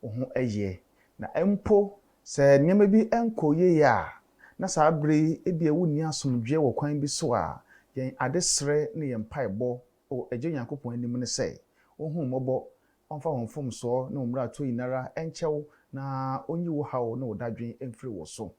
wo ho yie. Na mpo sɛ nneɛma bi nkɔ yie a, na saa berɛ yi ebia wonni asomdwoeɛ wɔ kwan bi so a, yɛn adesrɛ ne yɛn mpaebɔ wɔ Agya Onyankopɔn anim ne sɛ, Ɔnhunu wo mmɔbɔ, Ɔmfa wo mfomsoɔ ne wo mmaratoɔ nyina ara nkyɛ wo, na Ɔnyi wo haw ne wo dadwen mfiri wo so.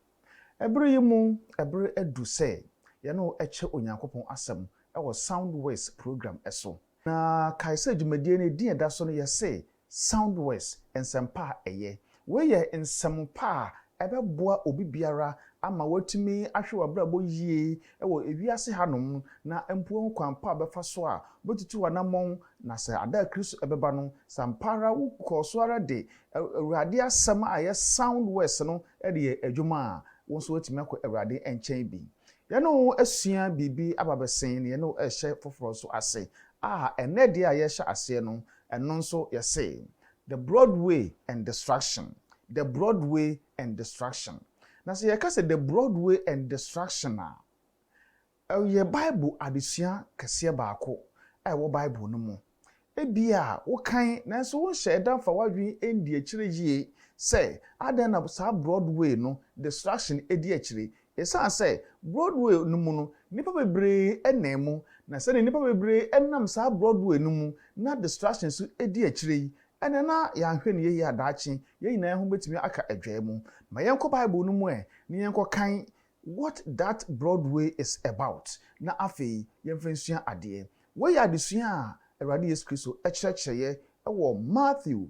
Ɛberɛ yi mu, ɛberɛ adu sɛ yɛne wo kyɛ Onyankopɔn Asɛm wɔ Soundwaves program so. Na kae sɛ dwumadie no edin a ɛda so no yɛse Sound Words, Nsɛmpa a Ɛyɛ. Wei yɛ nsɛm pa a ɛbɛboa obi biara ama watumi ahwɛ w'abrabɔ yie wɔ wiase hanom na mpo kwan pa a ɔbɛfa so a ɔbɛtutu w'anammɔn na sɛ da a Kristo bɛba no, sɛ ampa ara wokɔ so ara de Awurade Asɛm a ɛyɛ Sound Words no de yɛ adwuma a, wo nso woatumi akɔ Awurade nkyɛn bi. Yɛne wo asua biribi aba bɛsen na yɛne wo rehyɛ foforɔ nso ase a ɛnnɛ deɛ a yɛrehyɛ aseɛ no, Ɛno nso yɛse, The broad way and destruction, the broad way and destruction. Na sɛ yɛka sɛ the broad way and destruction a, ɛyɛ Bible adesua kɛseɛ baako a ɛwɔ Bible no mu. Ebia wokan nanso wonhyɛɛ da mfa w'adwene anndi akyire yie sɛ adɛn na saa broad way no destruction di akyire. Esiane sɛ Broadway no mu no, nnipa bebree nam mu, na sɛnea nnipa bebree nam saa Broadway no mu na distraction nso di akyire yi, ɛnde na yɛanhwɛ no yiye a daakye yɛn nyinaa ho betumi aka adwae mu. Ma yɛnkɔ Bible no mu ɛ na yɛnkɔkan What That Broadway Is About, na afei yɛmfa nsua adeɛ. Wei yɛ adesua a Awurade Yesu Kristo kyerɛkyerɛeɛ wɔ Matthew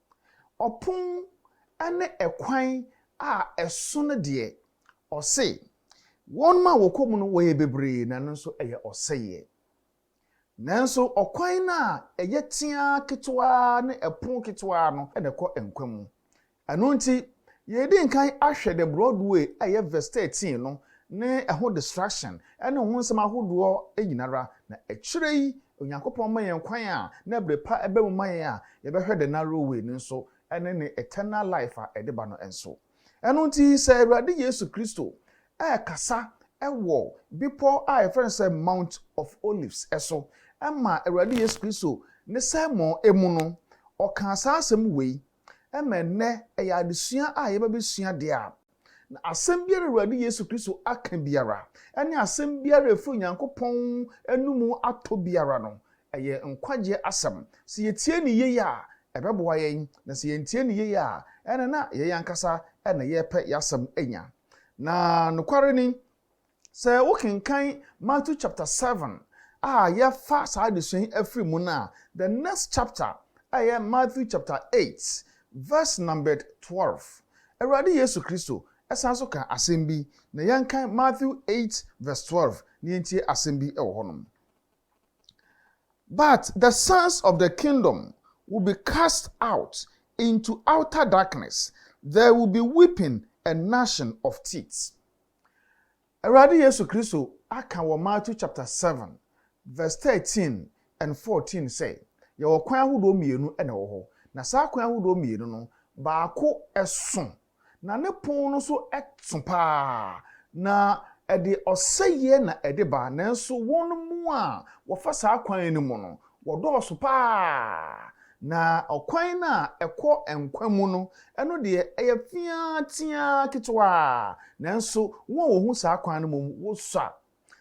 Ɔpon ne ɛkwan a ɛso no deɛ, ɔse, wɔnom a wɔkɔ mu no wɔyɛ bebree na ɛno nso ɛyɛ ɔsɛeɛ. Nanso ɔkwan no a ɛyɛ teaa ketewaa ne ɛpono ketewaa no na ɛkɔ nkwa mu. Ɛno nti, yɛredi nkan ahwɛ The Broadway a ɛyɛ verse 13 no ne ɛho distraction ne ho nsɛm ahodoɔ nyina ara, na akyire yi Onyankopɔn ma yɛn kwan a na bere pa ba mu ma yɛn a yɛbɛhwɛ the narrow way no nso, ɛne ne eternal life a ɛde ba no nso. Ɛno nti sɛ Awurade Yesu Kristo rekasa wɔ bepɔw a yɛfrɛ no sɛ Mount of Olives so ma Awurade Yesu Kristo ne sermon mu no, ɔkaa saa asɛm wei ma ɛnnɛ ɛyɛ adesua a yɛba bɛsua deɛ a, Na asɛm biara a Awurade Yesu Kristo aka biara, ne asɛm biara a ɛfiri Onyankopɔn anom atɔ biara no, ɛyɛ nkwagyeɛ asɛm. Sɛ yɛtie no yie a, ɛbɛboa yɛn, na sɛ yɛntie no yie a, ɛnneɛ na yɛn ankasa na yɛrepɛ yɛn asɛm anya. Na nokware ni, Sɛ wokenkan Matthew chapter seven a yɛfa saa adesua yi afiri mu no a, the next chapter a ɛyɛ Matthew chapter eight verse numbered twelve. Awurade Yesu Kristo san so ka asɛm bi na yɛnkan Matthew eight verse twelve na yɛntie asɛm bi wɔ hɔ nom. But the sons of the kingdom will be cast out into outer darkness, there will be weeping and gnashing of teeth. Awurade Yesu Kristo aka wɔ Matthew chapter seven verse thirteen and fourteen sɛ yɛwɔ kwan ahodoɔ mmienu na ɛwɔ hɔ, na saa kwan ahodoɔ mmienu no baako so na ne pon no so so paa, na ɛde ɔsɛeɛ na ɛde ba, nanso wɔn mu a wɔfa saa kwan no mu no Wɔdɔɔso paa, na ɔkwan no a ɛkɔ nkwa mu no, ɛno deɛ, ɛyɛ feaa teaa ketewaa, nanso wɔn a wɔhu saa kwan no mmom, wɔsua.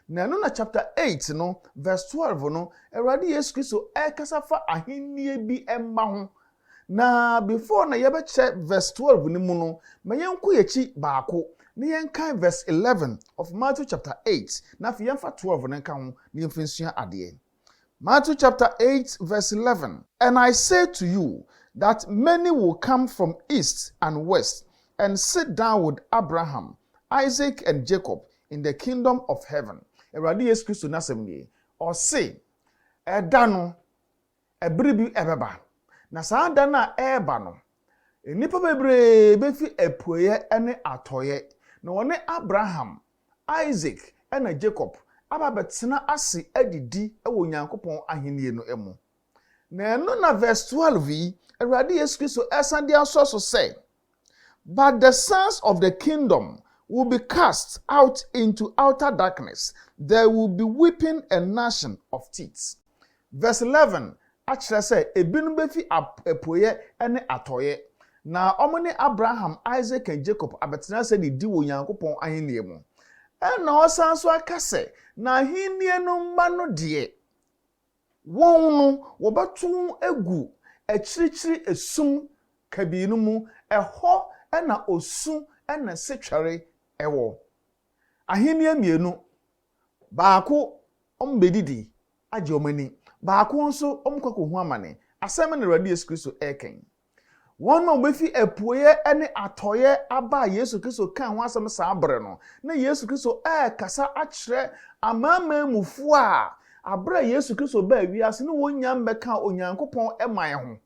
Na ɛno na chapter eight no, verse twelve no, Awurade Yesu Kristo rekasa fa ahennie bi mma ho. Na before na yɛbɛkyɛ verse twelve no mu no, ma yɛnkɔ yɛn akyi baako, na yɛnkan verse eleven of Matthew chapter eight, na afei yɛmfa twelve no nka ho, na yɛmfa nsua adeɛ. Matthew chapter eight verse eleven. And I say to you, that many will come from east and west, and sit down with Abraham, Isaac, and Jacob in the kingdom of heaven. Awurade Yesu Kristo n'asɛm nie. Ɔse, ɛda no, ɛbere bi ɛbɛba, na saa da no a ɛreba no, nnipa bebree befi apueɛ ne atɔeɛ, na wɔne Abraham, Isak, ɛna Jakob aba abɛtena ase adidi wɔ Onyankopɔn ahennie no mu. Na ɛno na verse twelve yi, Awurade Yesu Kristo resan de asɔ so sɛ, But the sons of the kingdom will be cast out into outer darkness, there will be weeping and gnashing of teeth. Verse eleven akyerɛ sɛ ebinom befi ap apueɛ ne atɔeɛ, na wɔne Abraham, Isaac and Jacob abɛtena ase de di wɔ Onyankopɔn ahennie mu. Ɛnna ɔsan nso aka sɛ, Na ahennie no mma no deɛ, wɔn no, wɔbɛto wɔn agu akyirikyiri esum kabii no mu, ɛhɔ na osu ne setwɛre wɔ. Ahennie mmienu. Baako, wɔbɛdidi, agye wɔn ani. Baako nso, wɔkɔ akɔhu amane. Asɛm bɛn na Awurade Yesu Kristo reka yi? Wɔn a wɔbɛfi apueeɛ ne atɔeɛ aba a Yesu Kristo kaa ho asɛm saa berɛ no, na Yesu Kristo rekasa akyerɛ amanaman mufoɔ a berɛ a Yesu Kristo baa wiase no wɔnnya mmɛkaa Onyankopɔn man ho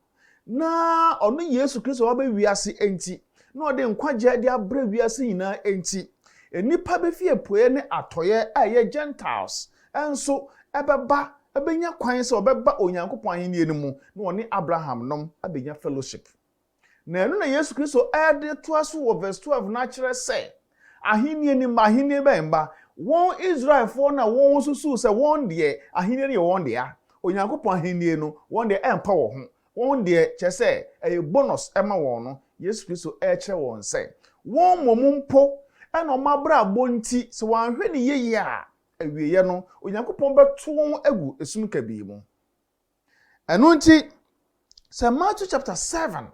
na ɔno Yesu Kristo a waba wiase enti, na ɔde nkwagyeɛ de abrɛ wiase nyinaa enti, nnipa bɛfi apueɛ ne atɔeɛ a ɛyɛ Gentiles nso bɛba bɛnya kwan sɛ wɔbɛba Onyankopɔn ahennie no mu na wɔne Abraham nom abɛnya fellowship. Na ɛno na Yesu Kristo de toa so wɔ verse 12 no ara kyerɛ sɛ, Ahenni no mma, ahenni bɛn mma? Wɔn Israelfoɔ no a wɔsusu sɛ wɔn deɛ ahenni no yɛ wɔn dea, Onyankopɔn ahenni no, wɔn deɛ ɛmfa wɔn ho, wɔn deɛ, kyerɛ sɛ, ɛyɛ bonus ma wɔn no, Yesu Kristo rekyerɛ wɔn sɛ, wɔn mmom mpo na wɔn abrabɔ nti, sɛ wɔanhwɛ no yiye a, awieeɛ no, Onyankopɔn bɛto wɔn agu esum kabii mu. Ɛno nti, sɛ Matthew chapter seven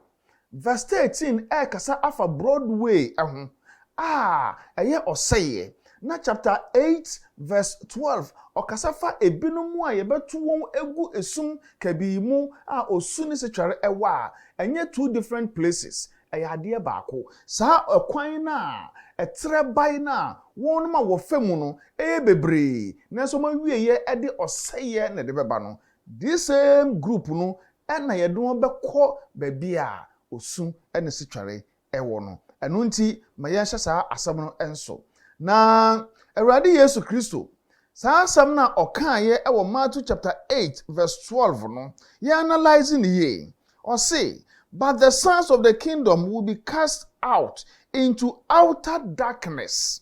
verse thirteen ɛrekasa afa Broadway ho a, ɛyɛ ɔsɛeɛ, na chapter eight verse twelve ɔkasa fa ebinom a yɛbɛto wɔn agu esum kabii mu a osu ne setwɛre wɔ a, ɛnyɛ two different places, Ɛyɛ adeɛ baako. Saa ɛkwan no a ɛtrɛ bae no a wɔnom a wɔfa mu no yɛ bebree nanso wɔn awieɛ de ɔsɛeɛ na ɛde bɛba no, this same group no na yɛde wɔn bɛkɔ baabi a osu ne setwɛre wɔ no. Ɛno nti ma yɛnhyɛ saa asɛm no nso. Na Awurade Yesu Kristo, saa asɛm no a ɔkaeɛ wɔ Matthew chapter eight verse twelve no, yɛanalyse no yie. Ɔse, But the sons of the kingdom will be cast out into outer darkness,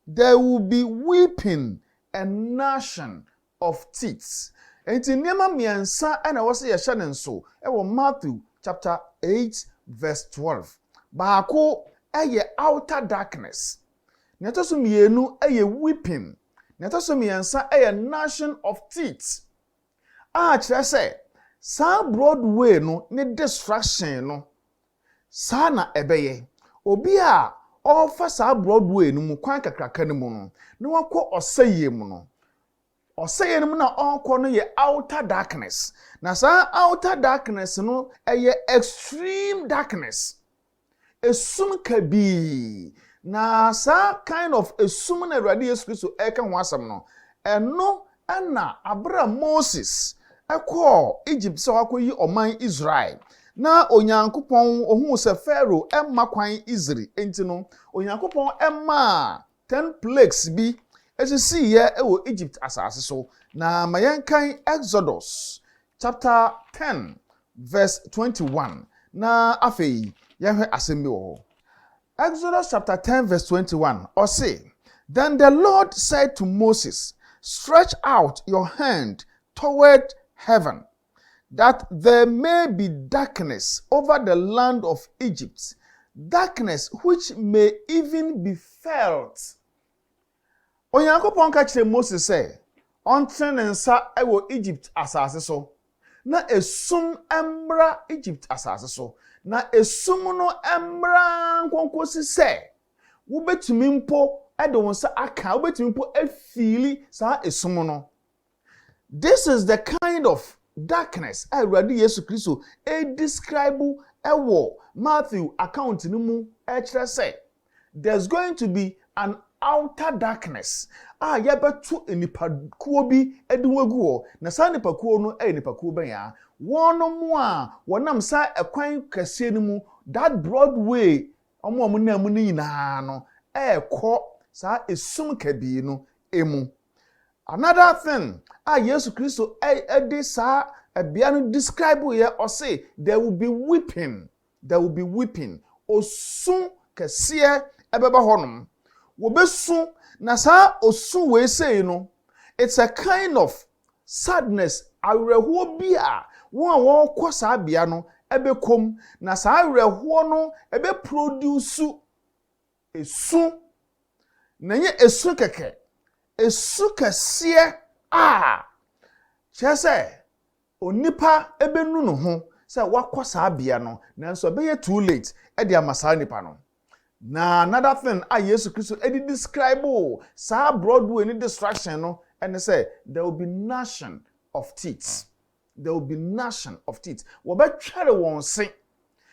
there will be weeping and gnashing of teeth. Enti nneɛma mmiɛnsa na ɛwɔ sɛ yɛhyɛ no nsow wɔ Matthew chapter eight verse twelve. Baako yɛ outer darkness, nea ɛtɔ so mmienu yɛ weeping, nea ɛtɔ so mmiɛnsa yɛ gnashing of teeth. a kyerɛ sɛ saa Broadway no ne destruction no, saa na ɛbɛyɛ. Obi a ɔrefa saa Broadway no mu kwan kakraka no mu no, na wakɔ ɔsɛeɛ mu no. Ɔsɛeɛ no mu na ɔrekɔ no yɛ outer darkness, na saa outer darkness no, ɛyɛ extreme darkness. Esum kabii. Na saa kind of esum na Awurade Yesu Kristo reka ho asɛm no, ɛno na bere a Moses kɔɔ Egypt sɛ wakɔyi ɔman Israel, na Onyankopɔn, ohuu sɛ Farao mma kwan Isri, enti no, Onyankopɔn maa Ten Plagues bi sisiiɛ wɔ Egypt asase so, na ma yɛnkan Exodus chapter ten verse twenty one na afei yɛnhwɛ asɛm bi wɔ hɔ. Exodus chapter ten verse twenty one, ɔse, Then the Lord said to Moses, Stretch out your hand toward heaven. that there may be darkness over the land of Egypt, darkness which may even be felt. Onyankopɔn ka kyerɛ Mose sɛ ɔntene ne nsa wɔ Egypt asase so na esum mmra Egypt asase so, na esum no mmra nkonkosi sɛ wobɛtumi mpo de wo nsa aka, wobɛtumi mpo afili saa esum no. This is the kind of darkness a Awurade Yesu Kristo redescribe wɔ Matthew account no mu rekyerɛ sɛ there's going to be an outer darkness a yɛbɛto nnipakuo bi de wɔn agu hɔ. Na saa nnipakuo no yɛ nnipakuo bɛn a? Wɔnom a wɔnam saa ɛkwan kɛseɛ no mu, that broad way, wɔn a wɔnam mu no nyinaa no ɛrekɔ saa esum kabii no mu. Another thing a Yesu Kristo de saa ɛbea no describe yɛ, ɔse there will be weeping, there will be weeping, osu kɛseɛ ɛbɛba hɔ nom, wɔbɛsu, na saa osu wei sei no, it's a kind of sadness, awerɛhoɔ bi a wɔn a wɔrekɔ saa bea no ɛbɛkɔ mu, na saa awerɛhoɔ no ɛbɛ produce Esu, na ɛnyɛ esu kɛkɛ, esu kɛseɛ a, kyerɛ sɛ, onipa bɛnu ne ho sɛ wakɔ saa bea no, nanso ɛbɛyɛ too late de ama saa nipa no. Na another thing a Yesu Kristo de describe saa Broadway no destruction no ne sɛ, there will be gnashing of teeth. There will be gnashing of teeth. Wɔbɛtwɛre wɔn se.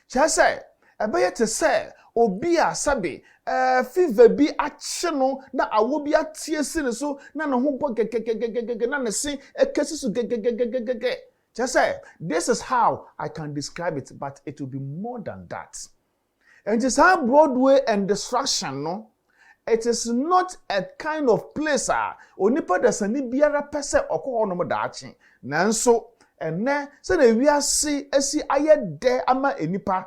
Kyerɛ sɛ, ɛbɛyɛ te sɛ obi a sɛbe eh, fever bi akye no na awɔ bi ateɛ si ne so na ne ho bɔ gɛgɛgɛgɛgɛgɛ na ne se kasi so gɛgɛgɛgɛgɛgɛ. Kyerɛ sɛ, this is how I can describe it but it will be more than that. Nti saa Broadway and distraction no it is not a kind of place a onipa dasani biara pɛ sɛ ɔkɔ hɔ nom daakye. Nanso ɛnnɛ sɛdeɛ wiase asi ayɛ dɛ ama nnipa,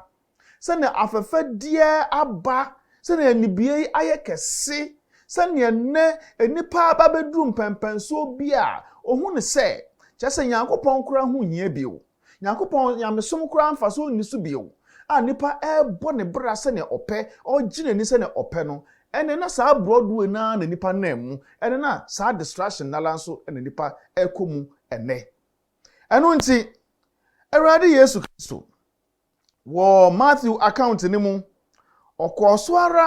sɛdeɛ afɛfɛdeɛ aba, sɛdeɛ anibue ayɛ kɛse, sɛdeɛ ɛnnɛ nnipa aba abɛduru mpɛnpɛnsoɔ bi a ɔhunu sɛ kyerɛ sɛ Nyankopɔn koraa ho nhia bio. Nyankopɔn nyamesom koraa mfaso nni so bio, a nipa rebɔ ne bra sɛnea ɔpɛ, ɔregye n'ani sɛnea ɔpɛ no, ɛnde na saa brɔdoɛ no ara na nipa nam mu, ɛnde na saa distraction no ara nso na nipa rekɔ mu ɛnnɛ. Ɛno nti, Awurade Yesu Kristo. Wɔ Matthew account no mu, ɔkɔɔ so ara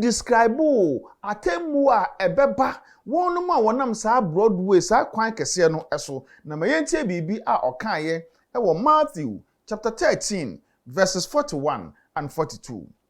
describoo atemmuo a ɛbɛba wɔnom a wɔnam saa Broadway, saa kwan kɛseɛ no so. Na ma yɛntie biribi a ɔkaeɛ wɔ Matthew chapter thirteen verses forty one and forty two.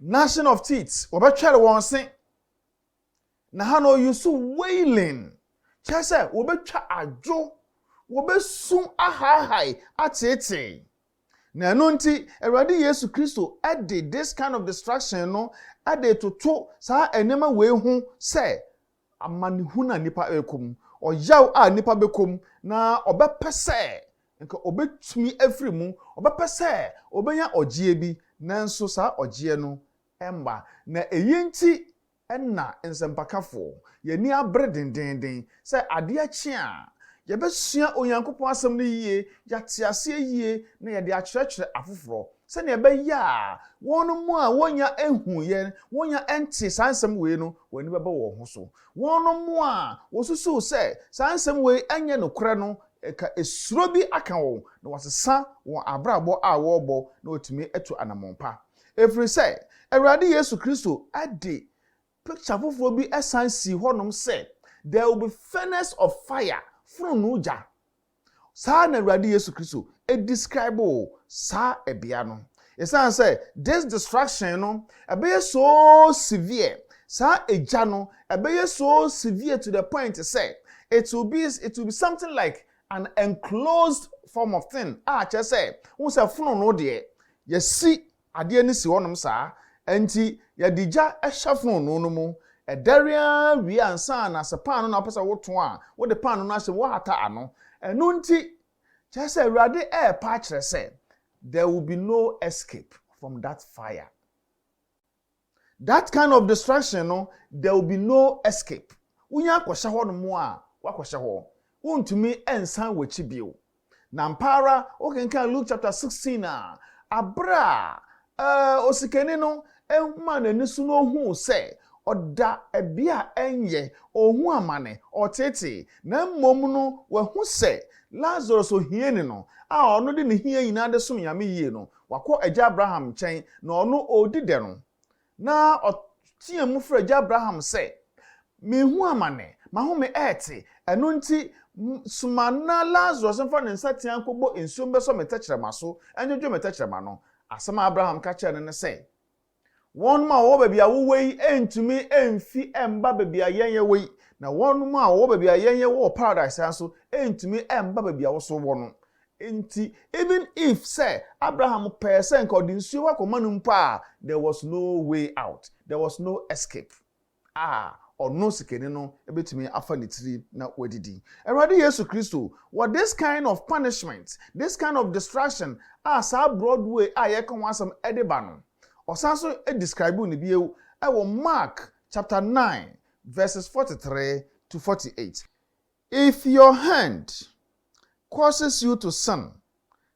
Gnashing of teeth, wɔbɛtwɛre wɔn se. Na ha no ɔyusu wailing, kyerɛ sɛ wɔbɛtwa adwo, wɔbɛsu ahaahae, ateetee. Na ɛno nti, Awurade Yesu Kristo de this kind of destruction no de retoto saa nneɛma wei ho sɛ amanehunu a nnipa rekɔ mu, ɔyaw a nnipa bɛkɔ mu, na ɔbɛpɛ sɛ nka ɔbɛtumi afiri mu, ɔbɛpɛ sɛ ɔbɛnya ɔgyeɛ bi, nanso saa ɔgyeɛ no mma. Na ɛyi nti na nsɛmpakafoɔ, yɛn ani abere dendeenden sɛ adeɛ kye a, yɛbɛsua Onyankopɔn Asɛm no yie, yɛate aseɛ yie, na yɛde akyerɛkyerɛ afoforɔ. sɛnea ɛbɛyɛ a wɔn mu a wɔnya nhuiɛ, wɔnya nte saa nsɛm wei no, wɔn ani bɛba wɔn ho so. Wɔn mu a wɔsusuw sɛ saa nsɛm wei nyɛ nokorɛ no, ɛka esuro bi aka wɔn, na wɔasesa wɔn abrabɔ a wɔrebɔ na wɔatumi atu anammɔn pa. Ɛfiri sɛ, Awurade Yesu Kristo de pikya foforɔ bi san sii hɔnom sɛ, There will be furnace of fire, fononoo gya. Saa ara na Awurade Yesu Kristo describoo saa ɛbea no. Esiane sɛ this destruction no ɛbɛyɛ so severe, saa egya no ɛbɛyɛ so severe to the point sɛ it will be it will be something like an enclosed form of thing a kyerɛ sɛ wohu sɛ fononoo deɛ yɛsi Adeɛ no si hɔnom saa. Ɛnti yɛde gya hyɛ fononoo no mu. Ɛdɛre ara wie ansa na sɛ paano na wopɛ sɛ wotõ a, wode paano no ahyɛ mu, woahata ano. Ɛno nti, kyerɛ sɛ Awurade repa akyerɛ sɛ, There will be no escape from that fire. That kind of distraction no there will be no escape, wonya akɔhyɛ hɔ nom a woakɔhyɛ hɔ, wontumi nsan w'akyi bio. Na ampa ara wokenkan Luke chapter 16 a, aberɛ a eh, osikani no maa n'ani so na ohuu sɛ ɔda ɛbea a ɛnyɛ, ɔnhu amane, ɔteetee, na mmom no wahu sɛ Lazarus ohiani no a ɔno de ne hia nyinaa de som Nyame yie no, Wakɔ agya Abraham nkyɛn, na ɔno ɔredi dɛ no, na ɔteaa mu frɛɛ agya Abraham sɛ, Merehu amane, m'ahome rete, ɛno nti, soma na Lasarus mfa ne nsateaa nkɔbɔ nsuom bɛsɔ me tɛkyerɛma so, nnwodwo me tɛkyerɛma no. Asɛm a Abraham ka kyerɛɛ no ne sɛ. Wɔnom a wɔwɔ baabi a wowɔ yi ntumi mfi mba baabi a yɛn yɛwɔ yi, na wɔnom a wɔwɔ baabi a yɛn yɛwɔ wɔ paradise ha nso ntumi mba baabi a wo nso wɔ no. Enti, even if sɛ Abraham pɛɛ sɛ nka ɔde nsuo hɔ akɔma no mpo a, there was no way out, there was no escape. a ɔno sikani no bɛtumi afa ne tiri na wadidi. Awurade Yesu Kristo wɔ this kind of punishment, this kind of distraction a saa Broadway a yɛreka ho asɛm de ba no, ɔsan nso describuu no bio wɔ Mark chapter nine verses forty three to forty eight. If your hand causes you to sin,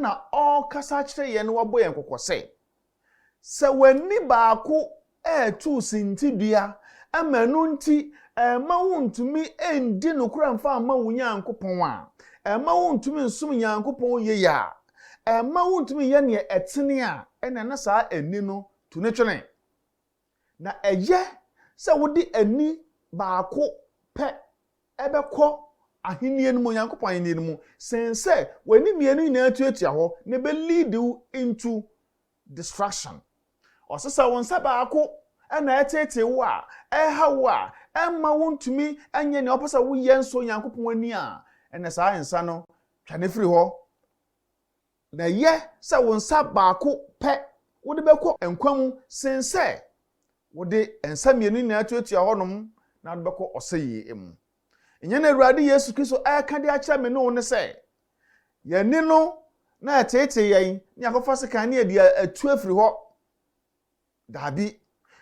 na ɔrekasa akyerɛ yɛn na wabɔ yɛn kɔkɔ sɛ, Sɛ w'ani baako retu wo sintidua ma ɛno nti ɛremma wuntumi ndi nokorɛ mfa mma wo Nyankopɔn a, ɛremma wuntumi nsom Nyankopɔn yie a, ɛremma wuntumi nyɛ deɛ ɛtene a, ɛnneɛ na saa ani no tu ne twene. Na ɛyɛ sɛ wode ani baako pɛ bɛkɔ Ahenni no mu, Onyankopɔn Ahenni no mu, sen sɛ w'ani mmienu nyinaa tuatua hɔ na ɛbɛleadi wo into destruction. Ɔse sɛ wo nsa baako na ɛteetee wo a, ɛha wo a, ɛmma wontumi nyɛ nea wopɛ sɛ woyɛ nsɔ Onyankopɔn ani a, ɛnna saa nsa no, twa no firi hɔ. Na ɛyɛ sɛ wo nsa baako pɛ wode bɛkɔ nkwa mu sen sɛ wode nsa mmienu nyinaa tuatua hɔnom na wode bɛkɔ ɔsɛyie mu. Nyɛ na Awurade Yesu Kristo reka de akyerɛ me ne wo ne sɛ, yɛn ani no na ɛteetee yɛn ne yɛakɔfa sekan ne yɛde atu afiri hɔ. Dabi.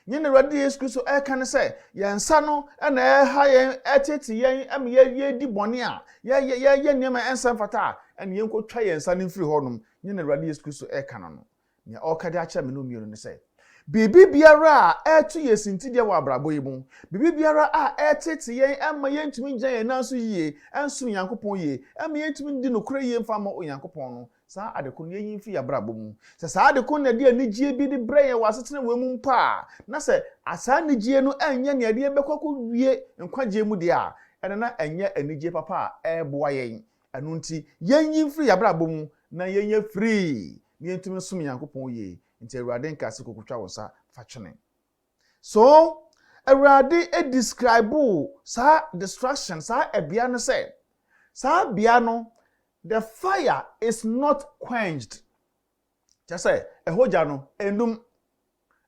Nea yɛn Awurade Yesu Kristo reka ne sɛ, yɛn nsa no na ɛreha yɛn, ɛreteetee yɛn ma yɛdi bɔne a, yɛyɛ nneɛma a ɛnsɛ mfata a, ɛnna yɛnkɔtwa yɛn nsa no mfiri hɔnom. Nea yɛn Awurade Yesu Kristo reka no no, nea ɔreka de akyerɛ me ne wo mmienu ne sɛ, biribiara a ɛreto yɛn sintidua wɔ abrabɔ yi mu, biribiara a ɛreteetee yɛn mma yɛntumi ngyina yɛn nan so yie nsom Onyankopɔn yie, ɛmma yɛntumi ndi nokorɛ yie mfa mma Onyankopɔn no, Saa ade ko no, yɛyi mfi yɛn abrabɔ mu. Sɛ saa ade ko no na ɛde anigyeɛ bi de brɛ yɛn wɔ asetena wei mu mpo a, na sɛ saa anigyeɛ no nyɛ nea ɛde yɛn bɛkɔ akɔwie nkwagyeɛ mu deɛ a, ɛnna na ɛnyɛ anigyeɛ papa a ɛreboa yɛn. Ɛno nti, yɛnyi mfiri yɛn abrabɔ mu na yɛnyɛ free na yɛntumi nsom Nyankopɔn yie. Nti Awurade nkaa sɛ kɔkɔtwa wo nsa fa twene. So Awurade describoo saa distraction, saa bea no sɛ, saa bea no, The fire is not quenched, kyerɛ sɛ, ɛhɔ gya no, ɛnnum.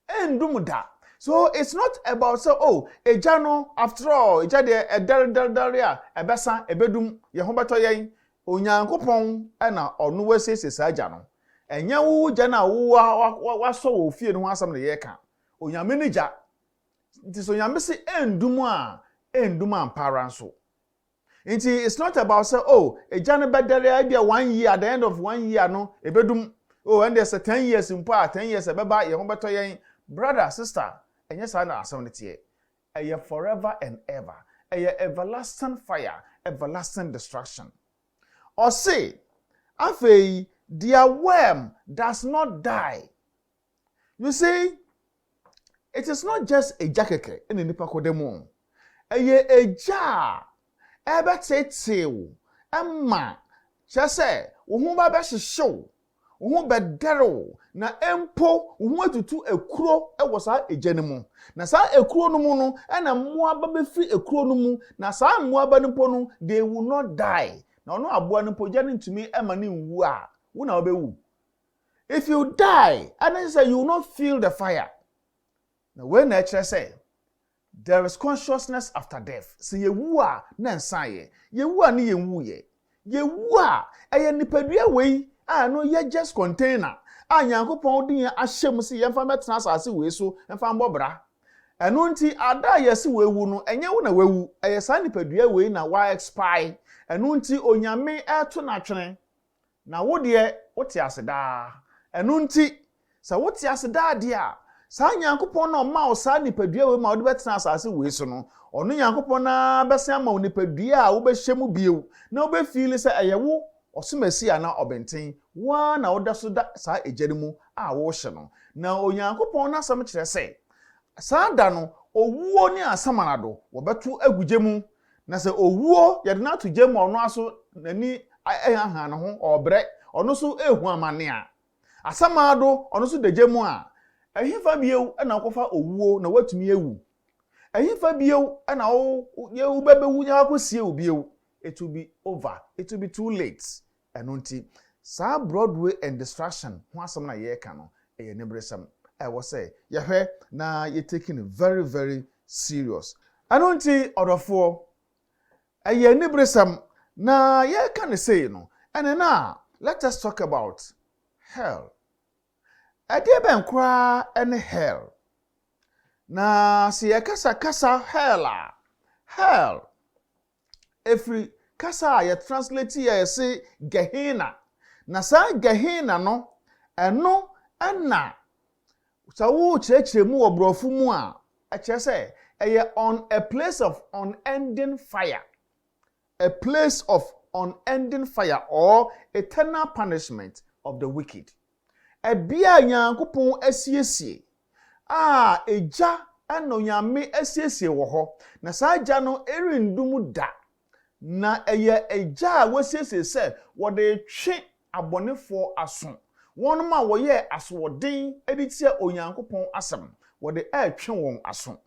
Ɛnnum da. So it's not about sɛ, oh, egya no, after all, egya deɛ, ɛdɛre dɛre dɛre a, ɛbɛsa, ɛbɛdum, yɛn ho bɛtɔ yɛn. Onyankopɔn na ɔno asiesie saa gya no. Ɛnyɛ wo gya no a wowɔ a wa, wa, wasɔ wɔ ofie no ho asɛm na yɛreka. Onyame ne gya. Nti sɛ Onyame se ɛndum a, ɛndum ampa ara nso. Nti it's not about sɛ oh egya no bɛdɛre a ebia one year at the end of one year no ebedum oh ɛndeɛ sɛ ten years mpo a ten years ɛbɛba yɛn ho bɛtɔ yɛn brother sister ɛnyɛ saa na asɛm no teɛ ɛyɛ forever and ever ɛyɛ everlasting fire everlasting destruction ɔse afei deɛ worm does not die You see, it is not just agya kɛkɛ na nnipa kɔda mu. Ɛyɛ agya a ɛbɛteetee wo ma kyerɛ sɛ wo ho ba bɛhyehye wo, wo ho bɛdɛre wo, na mpo wo ho atutu akuro wɔ saa agya no mu. Na saa akuro no mu no, ɛna mmoaba bɛfiri akuro no mu, na saa mmoaba no mpo no, they will not die. Na ɔno aboa no mpo, gya no ntumi ma no nwu a, wo na wobɛwu. If you die a na kyerɛ sɛ you will not feel the fire. Na wei na ɛkyerɛ sɛ there is consciousness after death. Sɛ yɛwu a na nsa yɛ. Yɛwu a ne yɛnwu yɛ. Yɛwu a ɛyɛ nipadua wei a ɛno yɛ just container a Nyankopɔn de yɛn ahyɛ mu sɛ yɛmfa mmɛtena asase wei so mfa mmɔ bra. Ɛno nti ada a yɛse wawu no ɛnyɛ wo na wawu, ɛyɛ saa nipadua wei na wa expire. Ɛno nti Onyame ɛreto no atwene. Na wo deɛ, wote ase daa. Ɛno nti, sɛ wote ase daa deɛ a, saa Nyankopɔn no a ɔmaa wo saa nipadua wei ma wode bɛtena asase wei so no, ɔno Nyankopɔn no ara bɛsan ama wo nipadua a wobɛhyɛ mu bio, na wobɛfiili sɛ ɛyɛ wo ɔsomasi anaa ɔbenten, wo ara na woda so da saa egya no mu a worehyɛ no. Na Onyankopɔn no asɛm kyerɛ sɛ, saa da no, owuo ne asamanado, wɔbɛto agu gya mu, Na sɛ owuo, yɛde no ato gya mu a ɔno ara so n'ani ahanhan ne ho, ɔrebrɛ, ɔno so rehu amane a, asamado, ɔno so da gya mu a, ɛhefa bio na wokɔfa owuo na woatumi awu? Ɛhefa bio na wo, wo, wobɛbɛwu na wɔakɔsie wo bio? It will be over. It will be too late. Ɛno nti, saa Broadway and Distraction ho asɛm no a yɛreka no, ɛyɛ aniberesɛm a ɛwɔ sɛ yɛhwɛ na yɛ take no very very serious. Ɛno nti ɔdɔfoɔ, ɛyɛ aniberesɛm na yɛreka no sei no, and then a let us talk about hell. Ɛdeɛ bɛn koraa ne hell? Na sɛ yɛkasa kasa hell a, hell, Ɛfiri kasa a yɛtranslate a ɛse Gehenna. Na saa Gehenna no, ɛno na sɛ worekyerɛkyerɛ mu wɔ borɔfo mu a, ɛkyerɛ sɛ ɛyɛ on a place of unending fire, a place of unending fire or eternal punishment of the wicked. Ɛbea a Nyankopɔn asiesie a Egya na Onyame asiesie wɔ hɔ, na saa Egya no renndu mu da, na ɛyɛ Egya a wasiesie sɛ wɔde retwe abɔnefoɔ aso, wɔnom a wɔyɛɛ asoɔden de tia Onyankopɔn asɛm, wɔde retwe wɔn aso.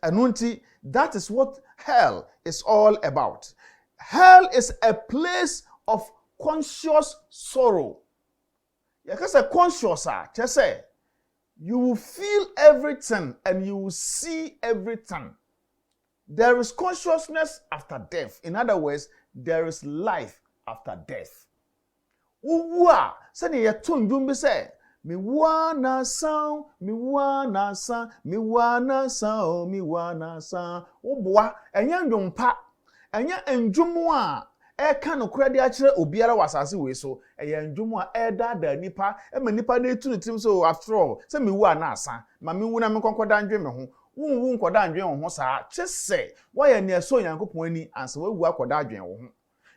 Ɛno nti, that is what hell is all about. Hell is a place of conscious sorrow. Yɛka sɛ conscious a, kyerɛ sɛ you will feel everything and you will see everything. There is consciousness after death. In other words, there is life after death. Wowu a, sɛdeɛ yɛto ndwom bi sɛ, mewu ara nansa o, mewu ara nansa, mewu ara nansa o, mewu ara nansa. Woboa, ɛnyɛ ndwom pa. Ɛnyɛ nnwom a ɛreka nokorɛ de akyerɛ obiara wɔ asase wei so. Ɛyɛ nnwom a ɛredaadaa nnipa ma nnipa no retu ne tirim sɛ, Oh, after all, sɛ mewu a na asa. Ma menwu na menkɔ nkɔda ndwen me ho. Wonwu nkɔda ndwen wo ho saa, gye sɛ woayɛ nea ɛsɔ Onyankopɔn ani ansa woawu akɔda adwen wo ho.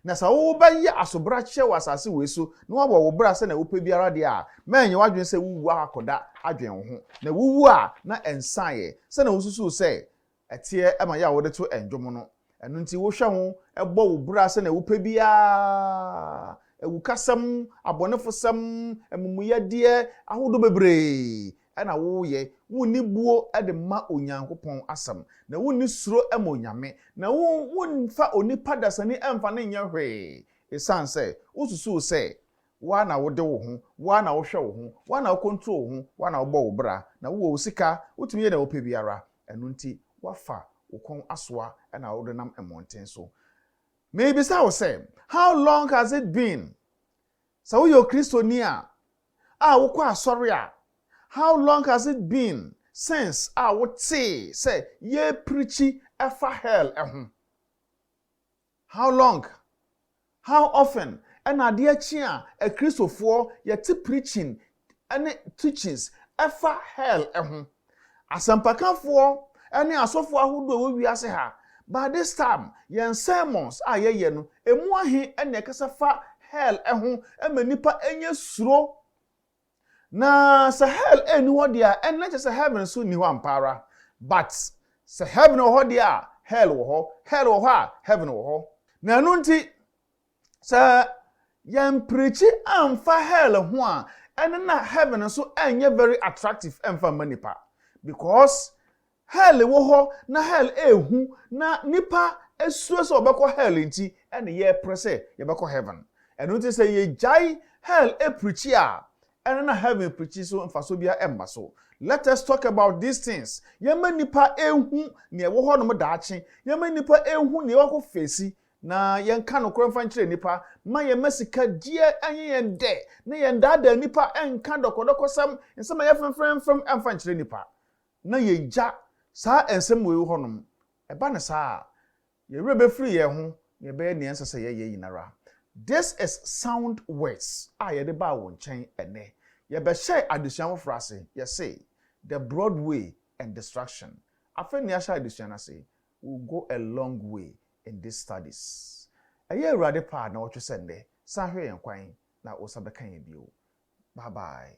Na sɛ wobɛyɛ asobrakyeɛ wɔ asase wei so na woabɔ wo bra sɛnea wopɛ biara deɛ a, mma ɛnyɛ w'adwene sɛ wowu akɔda adwen wo ho. Na wuwu a, na ɛnsaeɛ sɛnea wosusuw sɛ Ɛteɛ ma yɛn a wɔde to nnwom no. Ɛno nti wohwɛ ho bɔ wo bra sɛnea wopɛ biara. Awukasɛm, abɔnefosɛm, amumuyɛdeɛ ahodoɔ bebree na woyɛ. Wonni buo de ma Onyankopɔn asɛm, na wonni suro ma Onyame, na womfa onipa dasani mfa no nyɛ hwee, ɛsiane sɛ wosusuw sɛ wo ara na wode wo ho, wo ara na wohwɛ wo ho, wo ara na wocontrol wo ho, wo ara na wobɔ wo bra, na wowɔ wo sika, wotumi yɛ nea wopɛ biara. Ɛno nti woafa wo kɔn asoa na worenam mmɔnten so. Merebisa wo sɛ, How long has it been? Sɛ woyɛ Okristoni a, a wokɔ asɔre a, How long has it been since a wotee sɛ yɛreprikyi fa hell ho? How long, How often, na adeɛ kye a akristofoɔ yɛte preaching ne teachings ɛfa hell ho. Asɛmpakafoɔ ne asɔfoɔ ahodoɔ ɛwɔ wiase ha, by this time yɛn sermons a yɛyɛ no ɛmu ahe na ɛkasa fa hell ho ma nnipa ɛnyɛ suro? Na sɛ hell ɛnni hɔ deɛ a, ɛnna kyɛ sɛ heaven nso nni hɔ ampa ara. But, sɛ heaven wɔ hɔ deɛ a, hell wɔ hɔ. Hell wɔ hɔ a, heaven wɔ hɔ. Na ɛno nti, sɛ yɛampreakyi amfa hell ho a, ɛnne na heaven nso ɛnyɛ very attractive ɛmfa mma nnipa. Because, Hell wɔ hɔ na hell yɛ hu na nnipa suro sɛ wɔbɛkɔ hell nti na yɛpere sɛ yɛbɛkɔ heaven. Ɛno nti sɛ yɛgyae hell pirikyi a, ɛno na heaven pirikyi so mfasoɔ biara mma so. Let us talk about these things, yɛmma nnipa nhu nea ɛwɔ hɔ nom daakye, yɛmma nnipa nhu nea wɔakɔ feesi na yɛnka nokorɛ mfa nkyerɛ nnipa, mma yɛmma sika gyeɛ nyɛ yɛn dɛ na yɛndaadaa nnipa, nka dɔkɔdɔkɔsɛm, nsɛm a ɛyɛ fɛmfɛmfɛm mfa nkyerɛ nnipa. na yegya saa nsɛm wei hɔnom. Ɛba no saa a, yɛn werɛ bɛfiri yɛn ho na yɛbɛyɛ nea ɛnsɛ sɛ yɛyɛ nyinara. This is sound words a yɛde baa wo nkyɛn ɛnnɛ. Yɛbɛhyɛɛ adesua foforɔ ase, yɛsee, The Broad Way and Distraction. Afei na yɛahyɛ adesua no ase, We will go a long way in these studies. Ɛyɛ Awurade pɛ a na ɔtwe sɛ nnɛ, san hwɛ yɛn kwan na wo nsa bɛka yɛn bio. Bye bye.